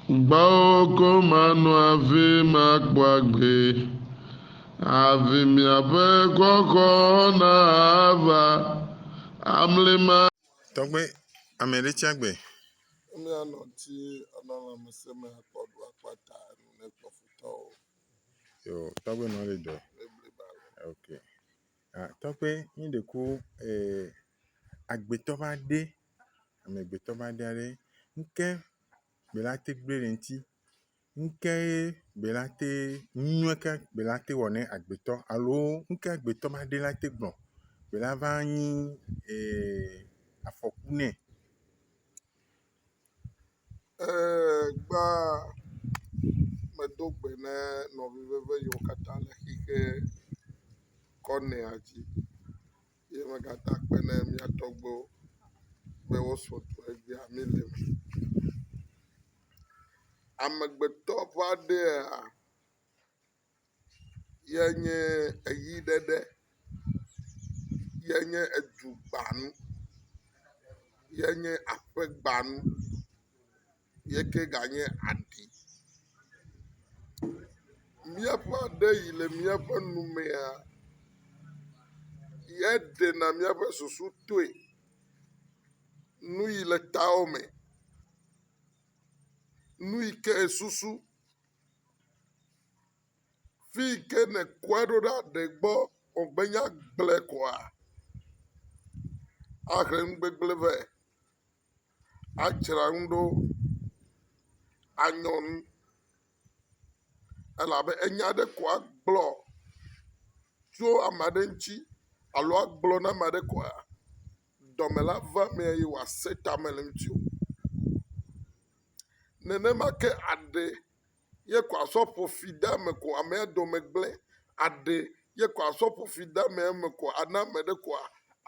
Gbɔwò ko mano avi makpɔ agbe, Avi miaƒe xɔxɔ nava amli ma. Tɔgbe, ame ɖe tsi agbe. Ame ya nɔ ŋti anɔ lãmesẽ me akpɔ ɖo akpɔ ata enu ne kpɔ futɔ o. Yo, tɔgbe nɔ le dɔ. Le bliba le. Ok. Ah, tɔgbe, mi ɖe ku eh, agbetɔ va ɖe. amegbetɔ va ɖia ɖe. Ŋke bela te gble le ŋti. Ŋke ye bela te nua ke bela te wɔ ne agbetɔ alo ŋke agbetɔ va ɖe la te gbɔ bela va nyi e afɔku nɛ. E gba medo gbe ne nɔvi veve yiwo katã le xixe kɔnɛa dzi. Ye megata kpe ɖe mía tɔgbuiwo be wosrɔ̃ tu egbea mí le eme. Amegbetɔ ƒe aɖe ya ye nye eʋi ɖeɖe ye nye edu gbanu ye nye aƒe gbanu. ye ke ganye aɖi. Míaƒe aɖe yi le míaƒe nu mea ye ɖena míaƒe susu toe. Nu yi le tao me, nu yi ke susu, fi yi ke nèkɔe ɖo ɖa ɖe gbɔ wògbenye agble koa ahe nugbegble vɛ. adzra nu ɖo anyɔ nu elabe enya aɖe ko agblɔ tso ame aɖe ŋuti alo agblɔ na ame aɖe koa, dɔme la va emee eye wòasẽ tame le eŋuti o. Nenema ke aɖe ye ko asɔ ƒo fi de eme ko amea dɔme gblẽ, aɖe ye ko asɔ ƒo fi de amea me ko ana ame aɖe koa,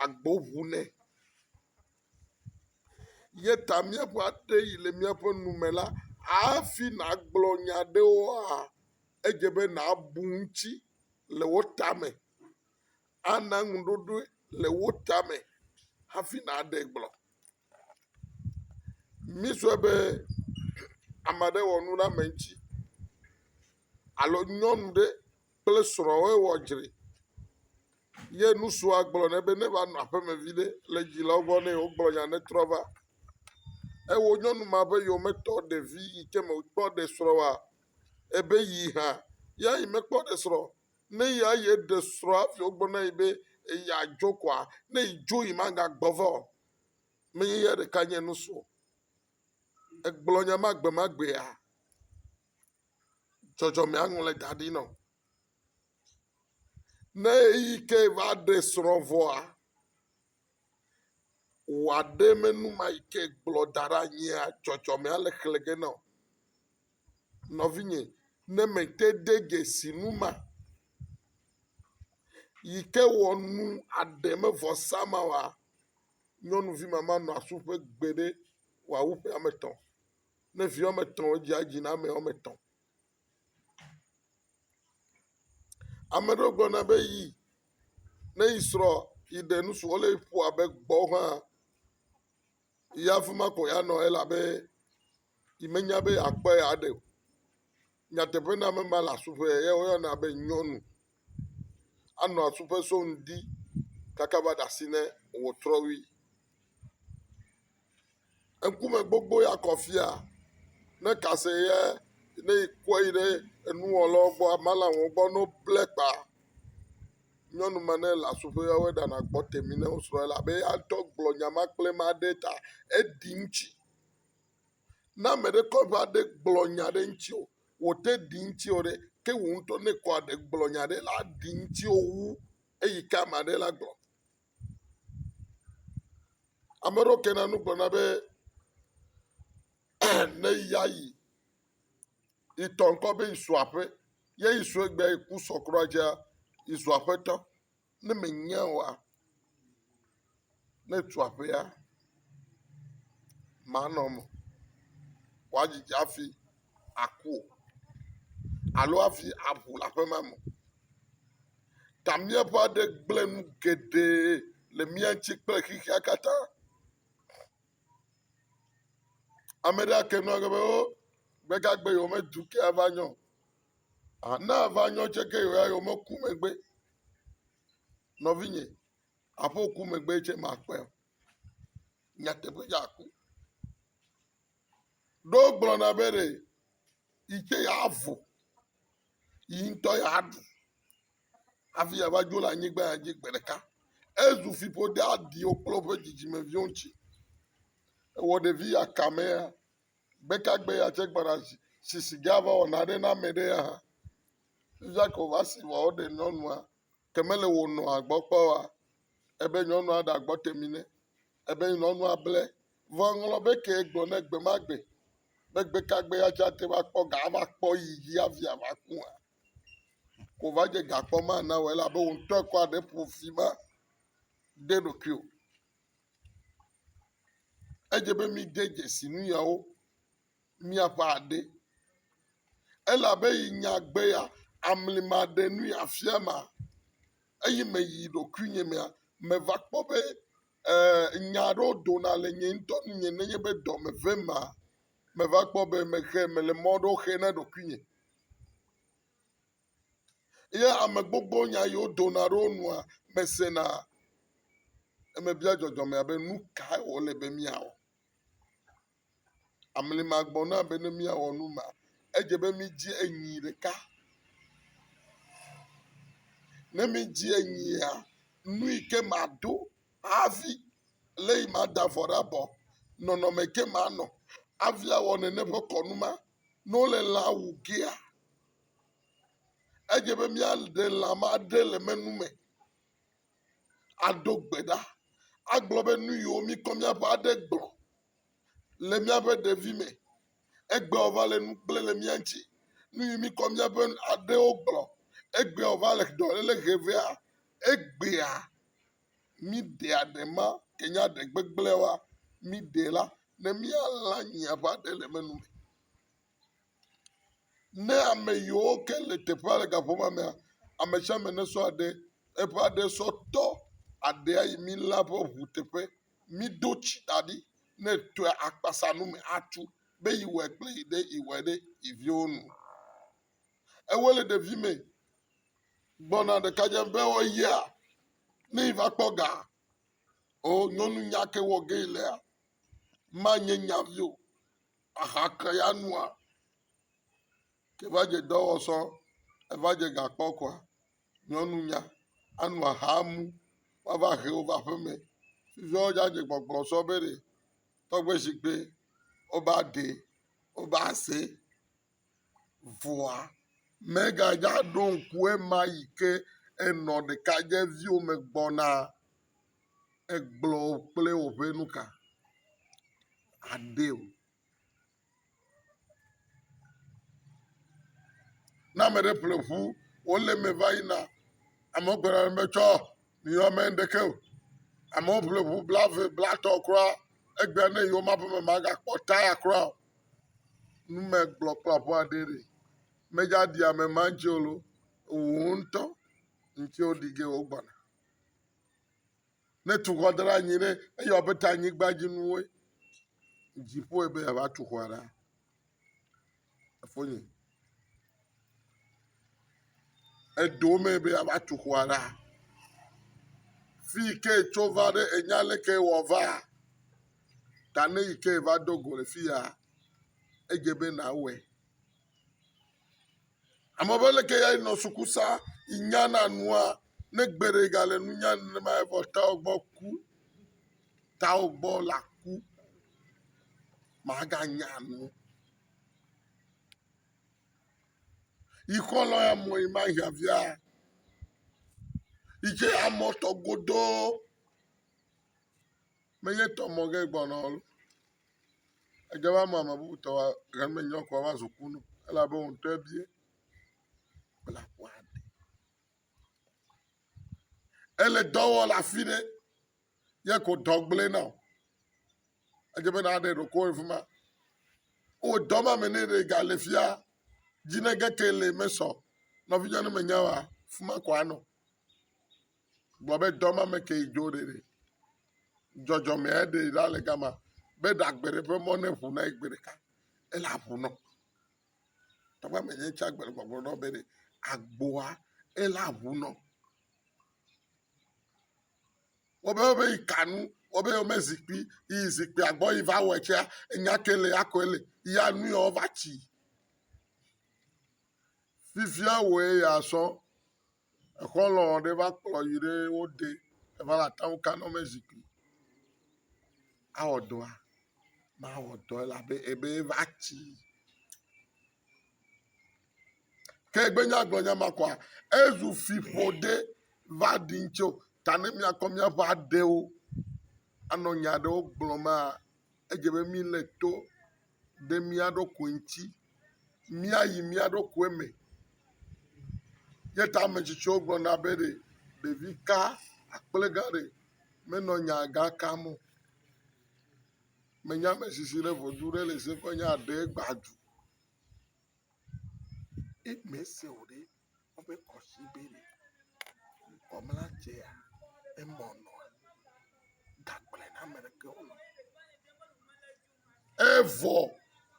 agbo ŋu nɛ. Ye ta míaƒe aɖe yi le míaƒe nu me la, hafi nàgblɔ nya aɖewoa, edze be nàbu ŋuti le wo tame. Ana ŋuɖoɖoe le wo tame hafi nàɖe gblɔ. Mísɔe be ame aɖe wɔ nu ɖe ame ŋuti alo nyɔnu ɖe kple srɔ̃a wo wɔ dzre ye nusrɔ̃a gblɔ nɛ be ne va nɔ aƒeme viɖe le dzilawo gbɔ ne yewo gblɔ nya ne trɔ va ewɔ nyɔnu ma ƒe yome tɔ ɖevi yi ke me kpɔ ɖe srɔ̃ wa ebe yi hã ya yi me kpɔ ɖe srɔ̃ ne ya ye ɖe srɔ̃a fi wo gbɔ na yi be eya dzo kɔa ne yi dzo yi ma ga gbɔ va o me ye ya ɖeka nye nusrɔ̃ egblɔ nya ma gbe ma gbea dzɔdzɔme aŋlɔe da ɖi na wò. Ne ɣeyiɣi ke va ɖe srɔ̃ vɔa, wò aɖemenume yi ke gblɔ da ɖe anyia, dzɔdzɔme ale xlẽ ge na wò. Nɔvinye, ne mete de dzesi nu ma yi ke wɔ nu aɖe mevɔsa ma oa, nyɔnuvi ma manɔ asu ƒe gbeɖe wòawu ƒe ame etɔ̃. Ne vi woame etɔ̃ wodzea dzi na ame woame etɔ̃. Ame aɖewo gblɔna be yi ne yi srɔ̃ yi ɖe nu si wɔm le ƒo abe gbɔ hã yi afi ma ko yeanɔ elabe yi menya be yeakpɔe aɖe o. Nyateƒe na ame ma le asu ƒe ye woyɔna be nyɔnu. anɔ asu ƒe so ŋdi kaka va ɖe asi ne wòtrɔwi. Ŋkume gbogbo ya kɔ fiaa ne ka se ye ne ekɔ yi ɖe enuwɔlawo gbɔ, malawo gbɔ ne woble kpa. Nyɔnu ma ne le asu ƒe ya woe ɖana gbɔ temi ne wosrɔ̃ ye elabe eya ŋutɔ gblɔ nya ma kple ma ɖe ta eɖi ŋutsi. Ne ame ɖe kɔ va ɖe gblɔ nya ɖe ŋutsi o. wò te ɖi ŋuti o ɖe, ke wò ŋutɔ ne kɔ aɖe gblɔ nya aɖe la aɖi ŋuti wò wu eyi ke ame aɖe la gblɔ. Ame aɖewo kena nu gblɔna be ne ya yi yi tɔ ŋkɔ be yi su aƒe ye yi su egbea yi ku sɔ kura dzea yi zu aƒetɔ. Ne mènya oa, ne etu aƒea, manɔ eme wòadzi dzi hafi aku o alo hafi aʋu le aƒe ma me o. Ta míaƒe aɖe gblẽ nu geɖe le mía ŋuti kple xexea katã. Ame ɖe ake nu age be, O, gbegagbe yewomedu ke ava nyɔ o. Aa ne ava nyɔ tsɛ ke yewoya yewomeku megbe Nɔvinye, aƒe ku megbe tsɛ màkpɔe o. Nyateƒe dzi aku. Ɖo wogblɔna be ɖe yi tsɛ yeavu, yi ŋutɔ yeaɖu hafi yeava dzo le anyigba ya dzi gbe ɖeka. Ezu fiƒode aɖiwo kple woƒe dzidzimeviwo ŋuti. Ewɔ ɖevi ya kame ya Gbekagbe ya tse gbɔna zi si siga va wɔ naɖe na ame ɖe ya hã. Fifia ko va si vɔ woɖe nyɔnua ke mele wo nɔa gbɔ kpɔ oa ebe nyɔnua ɖe agbɔ te mi nɛ. Ebe nyɔnua ble. Vɔ eŋlɔ be ke gblɔ nɛ gbe ma gbe be gbekagbe ya tse ate va kpɔ ga ava kpɔ yi dzi hafi ava ku hã. Ko va dze gakpɔ ma na wɔ elabe wò ŋutɔ kɔ aɖe ƒo fi ma de ɖokuiwò. Edze be mide dzesi nu yawo miaƒe aɖe elabe yi nya gbe ya amli maɖe nu afia ma eyi me yi ɖokuinye mea meva kpɔ be e nya aɖewo dona le nye ŋutɔ nu nye nenye be dɔ me vem ma meva kpɔ be mexe mele mɔ aɖewo xe na ɖokuinye. Ye ame gbogbo nya yi wodona ɖe wo nua me sena. Eme bia dzɔdzɔmea be nu kae wòle be míawɔ. Amli ma gbɔ na be ne míawɔ nu ma, edze be mídzi enyi ɖeka. Ne mídzi enyia, nu yi ke maɖo hafi lé yi mada vɔ ɖe abɔ, nɔnɔme yi ke manɔ hafi awɔ nene ƒe kɔnu ma, ne wole lã wu gea, Edze be míaɖe lã ma ɖe le menu me aɖo gbe ɖa agblɔ be nu yiwo míkɔ míaƒe aɖe gblɔ le míaƒe ɖevi me egbea wòva le nu kple le mía ŋuti. Nu yi míkɔ míaƒe aɖewo gblɔ egbea wòva le dɔléle he vea egbea míɖea ɖe ma ke nye aɖe gbegblẽa míɖe la ne míalã nyi abe aɖe le menu me. Ne ame yiwo ke le teƒea le gaƒɔ ma mea, ame sia ame nesɔ aɖe, eƒe aɖe sɔ tɔ aɖea yi mí lã ƒe ŋu teƒe. Mído tsi da ɖi ne etɔe akpasa nu me atu be yewɔe kple yi ɖe yewɔe ɖe yi viwo nu. Ewo le ɖevi me gbɔna ɖekadze be woyia ne yi va kpɔ ga o nyɔnu nya ke wɔ ge yi lea manye nya vi o. Aha ke ya nua? Ke va dze dɔ wɔ sɔ, eva dze ga kpɔ kɔa, nyɔnu nya anu aha mu woava he wo va aƒeme. Fifia wodze adze kpɔkplɔ sɔ be ɖe tɔgbe shigbe woba ɖee, woba see. vɔa, megadzo aɖo ŋku ema yi ke enɔ ɖekadzeviwo me gbɔna egblɔ kple woƒe nuka aɖee o. Ne ame ɖe ƒle ŋu wole eme va yina, amewo gblɔna be tsɔ miyɔ ame ɖeke o. Amewo ƒle ŋu bla eve bla etɔ̃ kura egbea ne yi womaƒe me magakpɔ taya kura o. numegblɔ kple aƒe aɖee ɖi. Medza ɖi ame ma dzi o lo, wò ŋutɔ ŋuti woɖi ge wogbɔna. Ne tu xɔ da ɖe anyi ɖe eyɔ abe ta anyigba dzi nuwoe, dziƒoe be yeava tu xɔa ɖa. Efonye. Eɖo wo mee be yeava tu xɔa ɖa. Fi yi ke etso va ɖe enya ale ke ewɔ va ta ne yi ke va do go le fi ya edze be nawɔe. Ame be leke ya yinɔ suku sa yi nyana nua ne gbe ɖe gale nu nya nenema evɔ tawɔ gbɔ ku tawɔ gbɔ laku maganya nu. Yikɔ lɔ ya mɔ yi ma hia via. Yi tse amɔ tɔ godoo. Me nye tɔ mɔ ge gbɔnɔ lo. Edze be ame ame bubu tɔ wa ʋe me nyo kɔ va zu kunu elabe wo ŋutɔ ebie bla ƒua de. Ele dɔ wɔ le afi ɖe. ye ko dɔ gblẽ na wò. Edze be nàɖe ɖokuiwò le afi ma. Wò dɔ ma me ne ɖe gale fia, dzi ne ge ke le mesɔ. Nɔvinyɔnu ne mènya oa, afi ma ko anɔ. Gblɔ be dɔ ma me kee dzo ɖeɖe. Dzɔdzɔmea eɖe ɖa le gama be ɖagbe ɖe ƒe mɔ ne ŋu na ye gbe ɖeka. Ele aŋu nɔ. Tɔgbe ame nye tsa gbe le gbɔgblɔ nɔ be ɖe agboa ele aŋu nɔ. wɔbe wɔbe yi ka nu wɔbe wɔme zikpui yi zikpuia gbɔ yi va wɔe tsɛa enya kae le ya koe le ya nu ya wova tsi fifia wɔe ya sɔ exɔ lɔ ɖe va kplɔ yi ɖe wo de eva le ata ŋu ka na wɔme zikpui awɔ dɔa mawɔ dɔ elabe ebe va tsi. Ke egbe nya gblɔ nya ma kɔa, ezu fi ƒoɖe va ɖi ŋtsi o. Ta ne míakɔ míaƒe aɖewo anɔ nya aɖewo gblɔ ma, edze be míle to ɖe mía ɖokui ŋtsi. Míayi mía ɖokui me. Ye ta ame tsitsiwo gblɔna be ɖe ɖevi ka akple gã ɖe menɔ nya gã kam o. Menye ame si si ɖe ʋɔtru ɖe le se ƒe nya ɖe gba dzu. If me se o ɖe, woƒe kɔsi be le. Kɔmla dzea emɔ nɔa gagblẽ na ame ɖeke o. Evɔ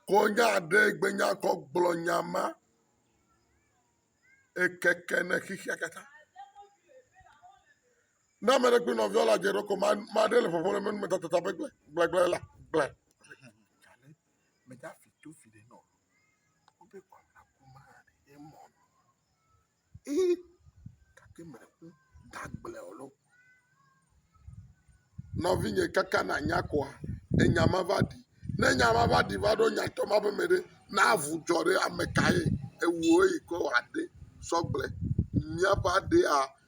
konya ɖe gbenya kɔ gblɔ nya ma ekeke ne xexea katã. Ne ame ɖe kple nɔviawo le adze ɖom ko mea, mea ɖe le ƒoƒom ɖe menu me tatata be gble, gble, gble la, gble. Meda fi to fi ɖe nɔ. Wobe kɔ la ko ma ɖe mɔ. Ee, gake me ko da gble o lo. Nɔvinye kaka na nya koa, enya ma va ɖi. Ne nya ma va ɖi va ɖo nya tɔ ma be me ɖe, na avu dzɔ ɖe ame ka ye? Ewuo yi ke wɔ aɖe sɔ gble. Míaƒe aɖea.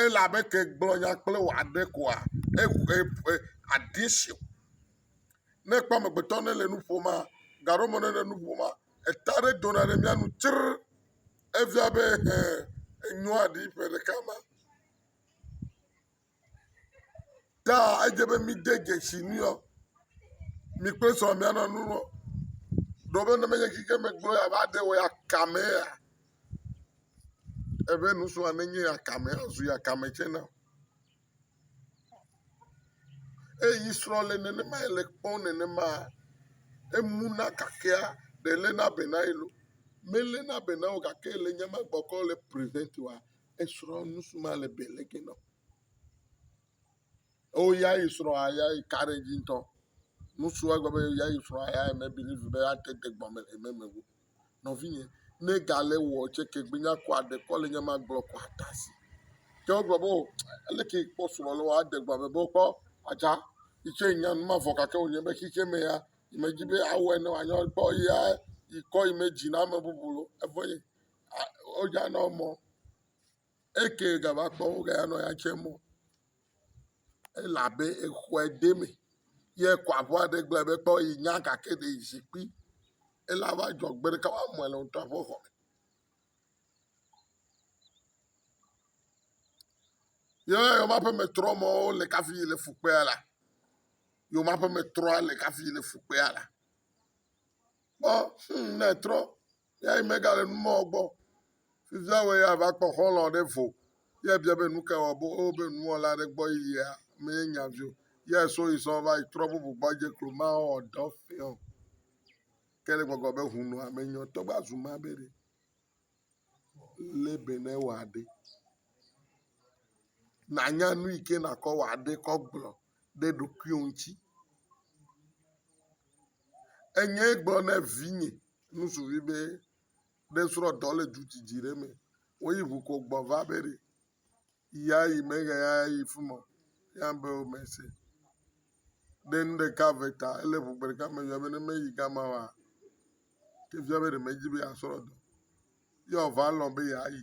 Ele abe ke egblɔ nya kple wò aɖe koa, eŋu e e aɖi si o. Ne èkpɔ amegbetɔ ne le nu ƒomea, gaɖɔ me ne le nu ƒomea, eta aɖe dona ɖe mía nu tsrr. Efia be hẽ enyoa ɖi ƒe ɖeka ma. Ta edze be mide dzesi nɛ ɔ, mi kple srɔ̃ mianɔ nu ɔ, ɖewo be ne menye xixe me gblɔ yeava ɖe o ya kame ya? Ebe nusrɔ̃a nenye ya kame azu ya kame tsɛ na. Eye yi srɔ̃ le nenema le kpɔm nenema emu na gakea ɖe lena be na ye loo. Melena be na ye o gake le nye me gbɔkɔ le prevent wa. esrɔ̃ nu si me ale be le ke nɔ. Eo ya yi srɔ̃a ya yi ka ɖe edzi ŋutɔ. Nu si wagblɔ be ya yi srɔ̃a ya yi mebelivu be ate de gbɔ me le eme me o. Nɔvinye, ne gale wɔ tsɛ ke gbe nya kɔ aɖe kɔ le nya ma gblɔ kɔ ate asi. Ke wogblɔ be o ele ke kpɔ srɔ̃ le wɔ ade gbɔ me be wokpɔ atsa yi tsɛ nya nu mavɔ gake wònye be xexeɛ me ya yi medi be awɔe ne wòanyo kpɔ eya yi kɔ yi me dzi na ame bubu o. Evɔ ye Wodza nɔ mɔ eke ga va kpɔ wo ga ya nɔ ya tse mɔ elabe exɔe de me ye kɔ aƒua ɖe gblɔe be kpɔ yi nya gake ɖe yi zikpui ela va dzɔ gbe ɖeka wa mɔe le ŋtɔa ƒe xɔ me. Ye yɔma ƒe metrɔ mɔ wo le kafi yi le fu kpea la yɔma ƒe metrɔ le kafi yi le fu kpea la. Kpɔ hum ne etrɔ Ya yi megale nu mɔ gbɔ. Fifia wɔ ya va kpɔ xɔlɔ ɖe vo. Ya bia be nu ka wɔ bo o be nuwɔla ɖe gbɔ yi ya me ye nya vio. Ya so yi sɔ va yi trɔ bubu gbɔ dze klo ma wɔ dɔ fiɔ. Ke le gbɔgbɔ be hunu ame nyɔ tɔ gba zu ma be ɖe. Le be ne wɔ aɖe. Na nya nu yi ke na kɔ wɔ aɖe kɔ gblɔ ɖe ɖokuiwo ŋuti. Enye gblɔ ne vinye. nusuvi be ne srɔ̃tɔ le du didi ɖe me woyi ʋu ko gbɔ va be ɖe ya yi me ɣe ya yi fi ma ya be o me se ɖe nu ɖeka ve ta ele ʋu gbe ɖeka me yɔ be ne meyi gama wa ke fia be ɖe medzi be asrɔ̃ dɔ ye wòva lɔ̃ be yeayi.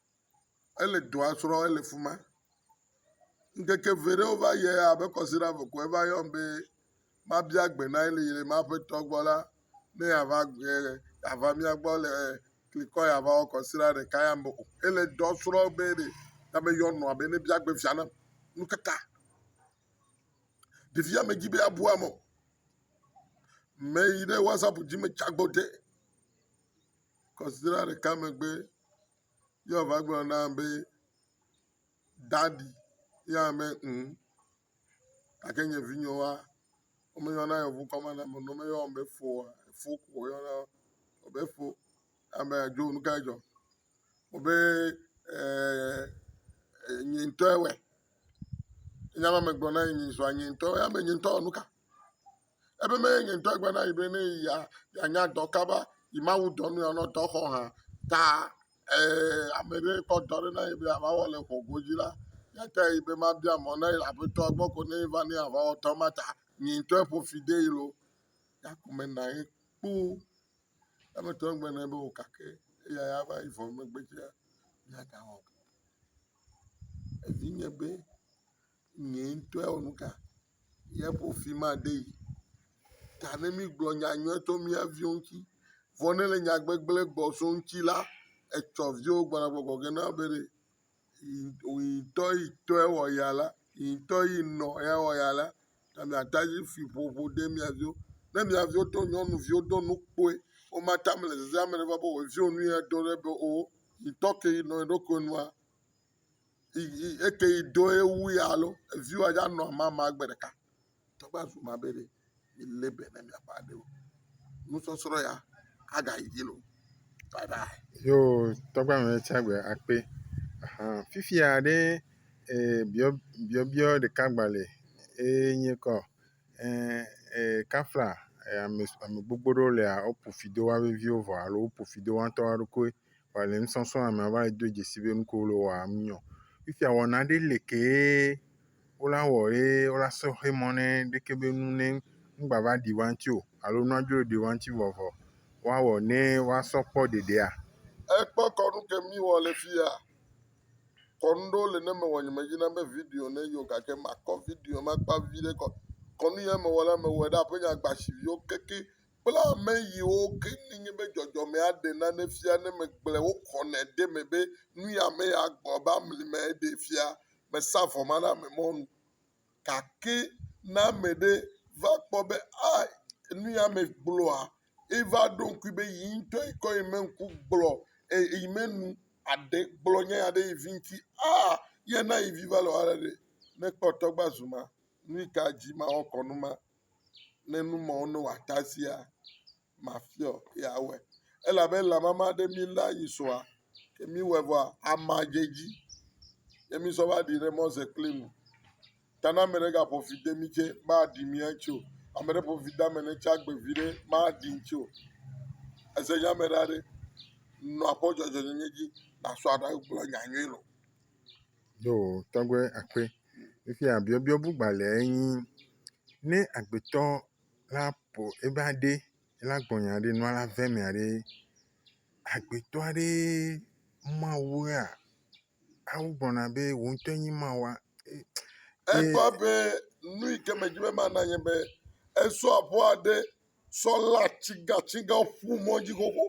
Ele dɔa srɔ ele fima. Ŋkeke ʋɛ ɖewo va yie abe kɔsiɖa vɔ ko eva yɔm be mabia gbe na ye le yi le ma ƒe tɔ gbɔ la ne ya va gbɔe ya va mía gbɔ le klikɔ ya va wɔ kɔsiɖa ɖeka ya me o. Ele dɔ srɔ be ɖe ya me yɔ nɔa be ne bia gbe fia nam. Nu ka ta? Ɖevia me dzi be abu ame o. Mɛ yi ɖe wasap dzi me tsa gbɔ de. kɔsiɖa ɖeka megbe ye wòava gblɔ na ame be, Daɖi. Ye anya be, ŋ, gake nye vinyewoa, womeyɔna yevu ŋkɔ ma na ame ne womeyɔ be fo oa? Efo ko woyɔna wo be fo. Ame dzo, nu kae dzɔ? Wò be ɛɛ nye ŋutɔe wɔe. Nya ma megblɔ na nye zua nye ŋutɔe wɔe. Anya be nye ŋutɔ wɔ nu ka? Ebe mee nye ŋutɔ gblɔ na yi be ne ya yanya dɔ kaba yi Mawu dɔ nu yanɔ dɔ xɔ hã ta ee ame ɖe kpɔ dɔ ɖe na yi be ava wɔ le xɔ godzi la yata yi be mabia mɔ na yi le aƒetɔ gbɔ ko ne va ne ava wɔ dɔ ma ta nye ŋutɔ ƒo fi de yi lo yakume na ye kpo eme tɔ gbe ne be o kake eya ya va yi vɔ megbe tsia yata wɔ evi nye be. Nye ŋutɔe wɔ nu ka ye ƒo fi ma de yi. Ta ne mígblɔ nya nyuie tso mía viwo ŋuti. Vɔ ne le nyagbegblẽ gbɔ so wo ŋuti la, etsɔ viwo gbɔna gbɔgbɔ gɔ̃ hã na wo be ɖe wò ŋutɔ yi tɔe wɔ ya la, yi ŋutɔ yi nɔ ya wɔ ya la, ta mìate ŋu afi ƒoƒo de mía viwo. Ne mía viwo to nyɔnuviwo do nu kpɔe womate ame le zazem be ame ɖe va be yewo viwo nu ye do ɖe be o yi ŋutɔ ke yi nɔ yeɖokui nua. eke yi do ye wu ya lo evi wa ya nɔ mama gbe ɖeka tɔ va zu ma be ɖe mi le be ne mia ƒe aɖewo nusɔsrɔ ya aga yi dzi lo bye bye. yo tɔgba me tsa gbe akpe ahan fifia ɖe e biɔ biɔbiɔ ɖeka gbale eye nye kɔ e e kafla ame ame gbogbo ɖewo lea woƒo fi do wa veviwo vɔ alo woƒo fi do wa ŋutɔ wa ɖokui wòale nusɔsrɔ̃ wɔm amea va yi do dzesi be nu ke wole wɔam nyo. Fifia wɔna ɖe li kee wola wɔ ye wola sɔxe mɔ ne ɖeke be nu ne ŋgbava ɖi woa ŋuti o alo nua dzo ɖi woa ŋuti vɔ vɔ woawɔ ne woasɔ kpɔ ɖeɖea? Ekpɔ kɔnu ke míwɔ le fi ya. Kɔnu ɖewo li ne mewɔ nye medzi na be video ne yio gake makɔ video makpa viɖe kɔ. Kɔnu ya mewɔ la mewɔe ɖe aƒenye agbasiviwo keke kple ame yiwo ke nye be dzɔdzɔmea ɖe nane fia ne megblɔe woxɔnɛ ɖe eme be nu ya ame ya gblɔ be amli me eɖe fia mesa vɔ ma na ame mɔnu gake ne ame ɖe va kpɔ be a nu ya ame gblɔa eva ɖo ŋkui be yi ŋutɔ yi kɔ yi me ŋku gblɔ eye yi me nu aɖe gblɔ nya ya ɖe yi vi ŋuti a ye na yi vi va le wɔna ɖe ne kpɔtɔ gba zu ma nu yi ka dzi mawɔ kɔnu ma ne nu mawo ne wòata sia, mafiɔ ye awɔe. Elabe lã mama ɖe mí la yi sɔa, ke míwɔe vɔa, ama dze edzi ye mísɔ va ɖi ɖe mɔ ze kple nu. Ta ne ame ɖe gaƒo fi de mí tsɛ, maɖi mí ŋuti o. Ame ɖe ƒo fi de ame ɖe tsɛ agbe viɖe, maɖi ŋuti o. Ese nya me ɖa ɖe, nɔ akpɔ dzɔdzɔenyenye dzi, nàsɔ aɖagblɔ nya nyui lɔ. Yo tɔgbe akpe, fifia biɔbiɔ bu gbalẽ enyi, ne agbetɔ la ƒo eƒe aɖe la gbɔ nya ɖe nua la ƒe mea ɖe, agbetɔ aɖee ma wua, awu gblɔna be wò ŋutɔ enyi ma wòa. Egbɔ be nu yi ke me dzi be ma na nye be esɔ ƒua ɖe. sɔ lé atsigatsiga ƒu mɔ dzi xoxo.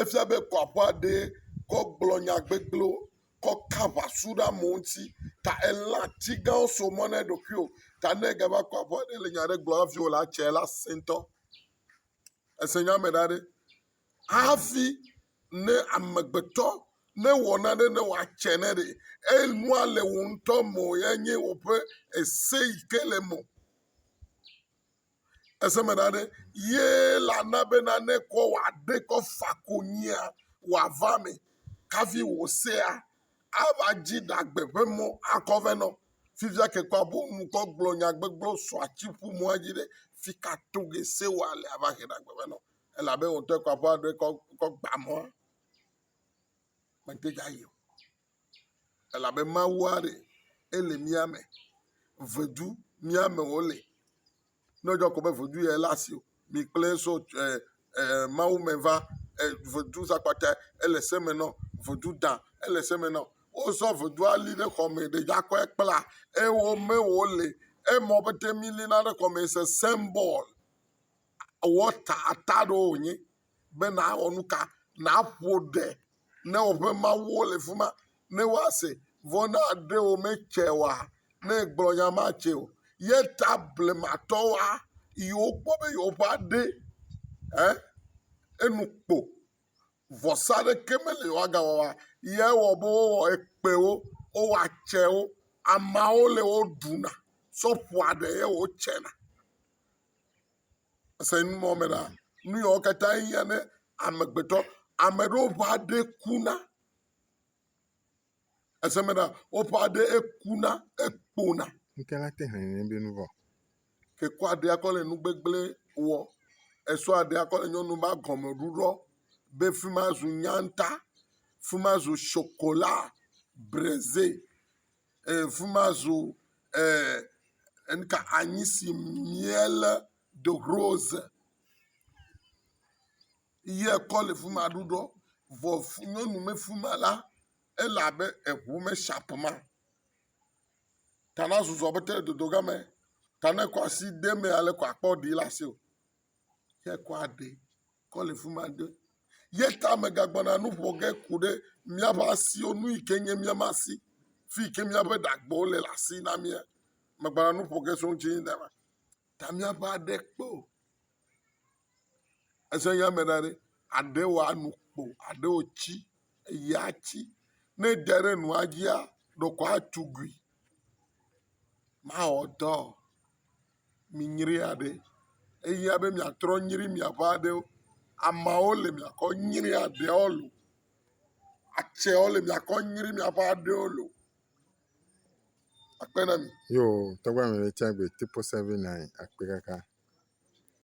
Efia be kɔ aƒea ɖee kɔ gblɔ nya gbegblẽwo kɔ ka aŋasu ɖe amewo ŋuti ta elé atsigawo so mɔ na eɖokuiwo ta ne egava kɔ aƒea ɖe le nya aɖe gblɔm hafi wòle ate la, asẽ ŋutɔ. Ese nya me ɖa ɖe. Hafi ne amegbetɔ ne wɔ nane ne wòatse ne ɖe enua le wò ŋutɔ me o yea nye woƒe ese yi ke le eme o. Ese me ɖa ɖe, ye la na be nane kɔ wòaɖe kɔ fa konyia wòava me kafi wò sea ava dzi ɖagbe ƒe mɔ akɔ vɛ nɔ. Fifia ke kpɔ abo ŋkɔ gblɔ nya gbegblɔ sɔ atsi ƒu mɔ edzi ɖe fi ka to ge se wɔ ale ava he ɖagbe vɛ nɔ. Elabe wòtɔ kpɔ aƒe aɖe kɔ kɔ gba mɔa. Mete dza yi o. elabe Mawua ɖe ele mía me, vedu mía me wòle. Ne wòdze ko be vedu ye le asi o, mi kplɔe so ɛɛ ɛɛ Mawu me va. Ɛɛ vedu zakpatɛ ele se me na wo. Vedu dã ele se me na wo. Wozɔ vedua li ɖe xɔme ɖe akɔe kpla eye wome wòle. Emɔ be ɖe milina ɖe xɔme is a symbol, wɔta, ata aɖewo wònye. be nawɔ nu ka? Naƒo ɖe ne woƒe mawuwo le fi ma ne woase vɔ ne aɖe wo metse oa, ne egblɔ nya ma tse o. Ye ta blematɔwoa yi wokpɔ be yewoƒe aɖe e enu kpo vɔsa ɖeke meli yewoa ga wɔa ye wɔ be wowɔ ekpewo, wowɔ atsewo. Ameawo le wo ɖuna tsɔ ƒoa ɖe ye wotsena. Èse nu ma me ɖaa? Nu yawo katã hiã ne amegbetɔ. Ame ɖewo ƒe aɖe kuna. Èse me ɖa? Woƒe aɖe ekuna, ekpona. Nu ka ŋuti hɛ̃ nɛ be nu vɔ̃? Ke kɔ aɖea kɔ le nu gbegblẽ wɔ. Esɔ aɖea kɔ le nyɔnu ma gɔme ɖuɖɔ be fi ma zu nyanta, fi ma zu shokola, breze. fima zu anyi si miele do rose ye kɔ le fima ɖuɖɔ vɔ nyɔnu me fima la ele abe eŋu me shop ma ta na zuzu be te dodo game ta ne kɔ asi de emea la akpɔ ɖi le asiwò ye kɔ aɖe kɔ le fi ma ɖe ye ta megagbɔna nu ƒo ge ku ɖe míaƒe asiwo nu yi ke nye míaƒe asi fi yi ke míaƒe ɖagbewo le le asi na mía. Megbɔna nu ƒo ge tso eŋuti nye dame. Ta míaƒe aɖe kpe o. Ese nye ame ɖa ɖe aɖe wɔ anu kpo aɖe wɔ tsi eye atsi ne ede ɖe nua dzia ɖeko atugui. Mawɔ dɔ o. minyri aɖe eya be miatrɔ nyri miaƒe aɖewo. Ameawo le miakɔ nyri aɖewo lo. Atsewo le miakɔ nyri miaƒe aɖewo lo. Akpe ɖe enu.